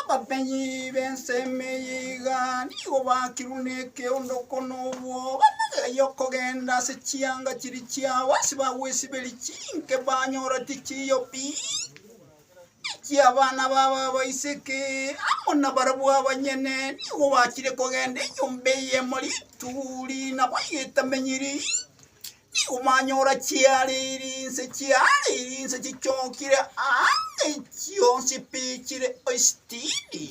Abamenyi b'ense eyio iga nigo baakirwe nekeondoko na obwoba, na eyio okogenda ase chianga chiria chiabo ase bagwesiberia chinke banyora tichiiyo pi, echi abana babo abaiseke amo nabarabwo abanyene nigo bachire kogenda enyomba eyemo rituri nabo iga etamenyiri. Nigo mwanyora chiareire inse, chiareire inse chichokire aande chionsi pi chire oisitini.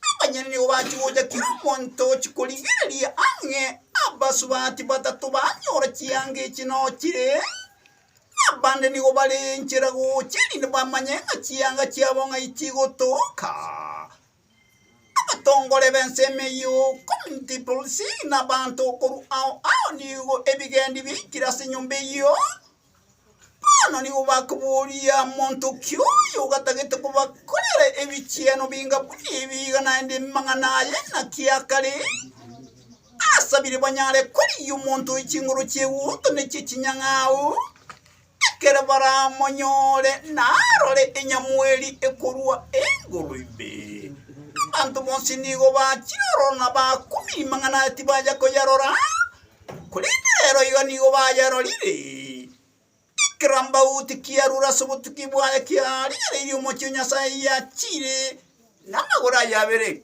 Abanyene nigo bachigocha kera omonto ochikorigereria ang'e, abasubati batato banyora chianga echi nochire, abande nigo bare enchera gocha erinde bamanye ng'a chianga chiabo ng'ai chigotoka. Abatongore b'ensemo eyio Kontipulusi na abanto korwa ao ao nigo ebigendi biaikire ase enyomba eyio. Bono nigo bakoboria monto ki oyo ogatagete kobakorera ebichieno binga buna ebi iga naende amang'ana aye naki akare asabire banyare korigia omonto oyo chinguru chi'egento ne chi'echinyang'au. Ekero baramonyore narore enyamweri ekorwa igoro ime, abanto bonsi nigo bachire ororo na bakubi magana tibacha koyerora, korende rero iga nigo bayerorire. Ekerambaoti kiarure ase obotuki bwaye kiarigereirie omochie o Nyasae yachiire namagoro aye abere.